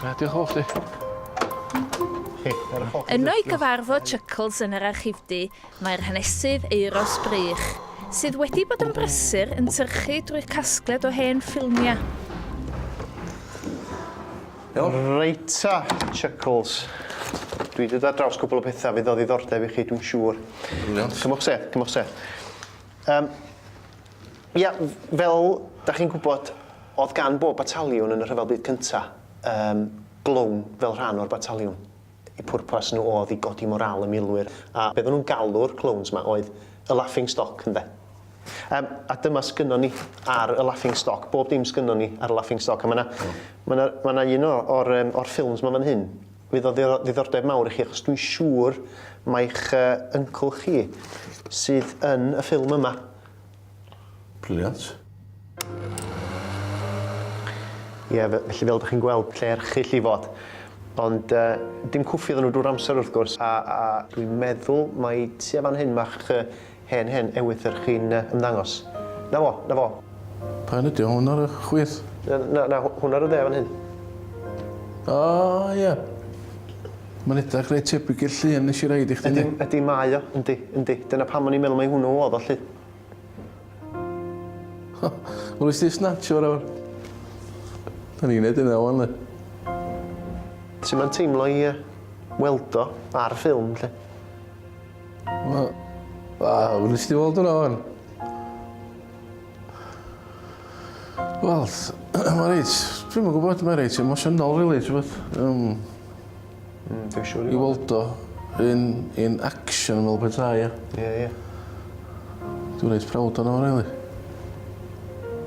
Gwna, diolch o chdi. Yno i gyfarfod Chuckles yn yr archifdy, mae'r hanesydd Euros Brych, sydd wedi bod yn brysur yn tyrchu drwy'r casgliad o hen ffilmiau. Reita, Chuckles. Dwi wedi dod draws cwbl o pethau fydd o ddiddordeb i chi, dwi'n siŵr. Cymwch sedd, cymwch sedd. Um, Ia, fel dach chi'n gwybod, oedd gan bob bataliwn yn y Rhyfel Byd Cyntaf yym glown fel rhan o'r bataliwn. Eu pwrpas nhw oedd i godi morâl y milwyr, a be oedden nhw'n galw'r clowns 'ma oedd y laughing stock, ynde? Yym, a dyma sgynnon ni ar y laughing stock, bob dim sgynnon ni ar y laughing stock, a ma' 'na ma' 'na ma' 'na un o o'r yym o'r ffilms 'ma fan hyn fydd o ddi- ddiddordeb mawr i chi, achos dwi'n siŵr mai'ch yy yncl chi sydd yn y ffilm yma. Brilliant. Ie, fe- felly fel dych chi'n gweld, lle erchyll i fod. Ond yy, dim cwffi oedden nhw drwy'r amser wrth gwrs, a a dwi'n meddwl mai tua fan hyn ma'ch yy hen hen ewythr chi'n yy ymddangos. 'Na fo, 'na fo. Pa un ydi o? Hwn ar y chwith? Na, na, na, hwn ar y dde fan hyn. O, ie. Mae'n edrach reit tebyg i'r llun nes i roid i chdi de. Yndi, mae o, yndi, yndi. Dyna pam o'n i'n meddwl mai hwnnw oedd o 'lly. O, wel nes di snatshio fo nawr. Da ni'n neud hynna ŵan 'le. Su' ma'n teimlo i yy weld o ar ffilm 'lly? Wel, wel nes di weld hwnna ŵan. Wel, mae reit, dwi'n yn gwybod, mae reit emosiynol, really, ti'n bod. Um, mm, dwi'n siŵr i weld o yn, yn action fel bethau, ie. Ie, ie. Dwi'n reit prawd o'n o'n, really.